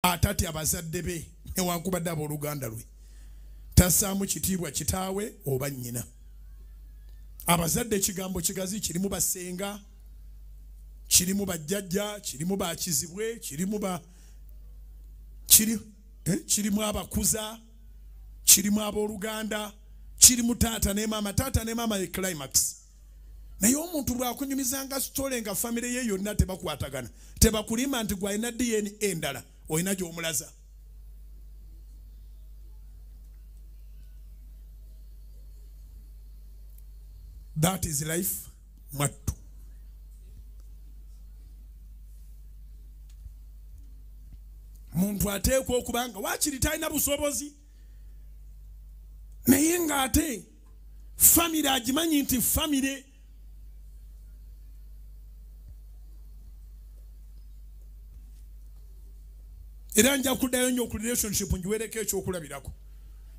atatya bazadde be newankubadde abooluganda lwe tassaamu kitiibwa kitaawe oba nnyina abazadde ekigambo kigazi kirimu basenga kirimu bajjajja kirimu bakizibwe kirimu ba kiri eh, kirimu abakuza kirimu abooluganda kirimu taata ne maama taata ne maama ye climax naye omuntu bwakunyumizanga sitole nga famire ye yonna tebakwatagana tebakulima nti gwalina dna endala olina gyomulaza that is life mwattu muntu ateekwa okubanga wakiri talina busobozi naye ngaate famire agimanyi nti famire era nja kuddayo nyo ku relationship njiwereko ekyokulabirako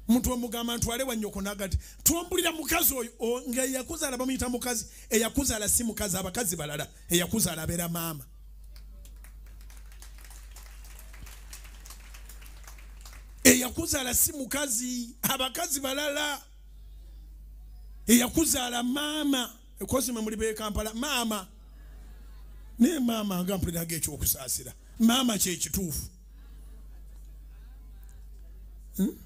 muntu omugamba ntwale wanyoko nagati twambulira mukazi oyo nga eyakuzaala bamuyita mukazi eyakuzaala si mukazi abakazi balala eyakuzaala abeera maama eyakuzaala si mukazi abakazi balala eyakuzaala maama ekosima muli bekampala maama naye maama nga mpuliraga ekyokusaasira maama kyekituufu hmm?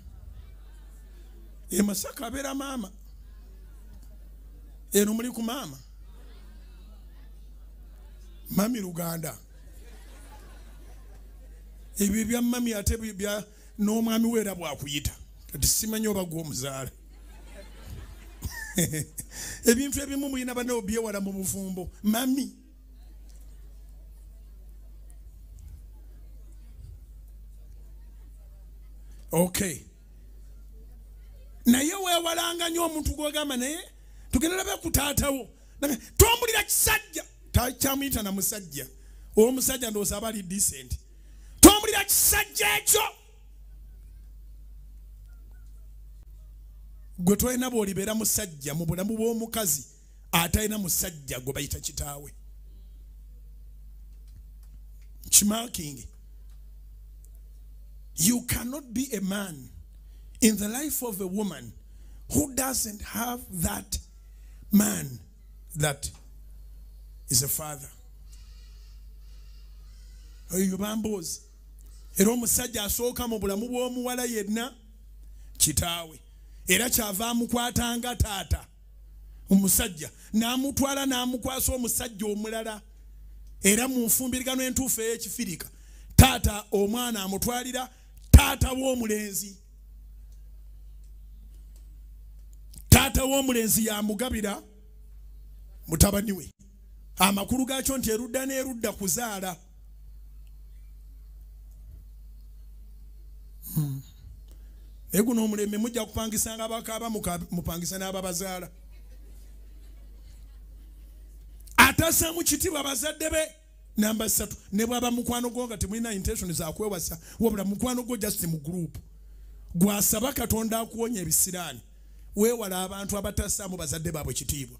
emasaka abeera maama eno muli ku maama mami luganda ebyo ebya mami ate bya n'omwami weera bwakuyita kati simanyi oba gwe omuzaala ebintu ebimu mulina banawo byewala mu bufumbo mami okay naye wewalanga nyo omuntu gwogamba naye tugenda labe ku taatawo tombulira kisajja kyamuyita na musajja omusajja ndowooza aba ali decent tombulira kisajja ekyo gwe tolina bwolibeera musajja mu bulamu bw'omukazi atalina musajja gwe bayita kitaawe kimakingi you cannot be a man in the life of a woman who doesn't have that man that is a father oyo bamboozi era omusajja asooka mu bulamu bw'omuwala yenna kitaawe era kyava amukwatanga taata omusajja n'amutwala n'amukwasa omusajja omulala era mu nfumbirigano entuufu ey'ekifirika taata omwana amutwalira taata w'omulenzi taata w'omulenzi yamugabira mutabani we amakulu gaakyo nti erudda n'erudda kuzaala hmm. naye guno omulembe mujja kupangisa nga bakaaba mupangisa n'ababazaala atasamu kitibwa bazadde be namba satu ne bwaba mukwano gwo nga temulina intention zakwewasa wabula mukwano gwo just mu group gwasaba katonda akuwonya ebisiraani weewala abantu abatasaamu bazadde baabwe kitiibwa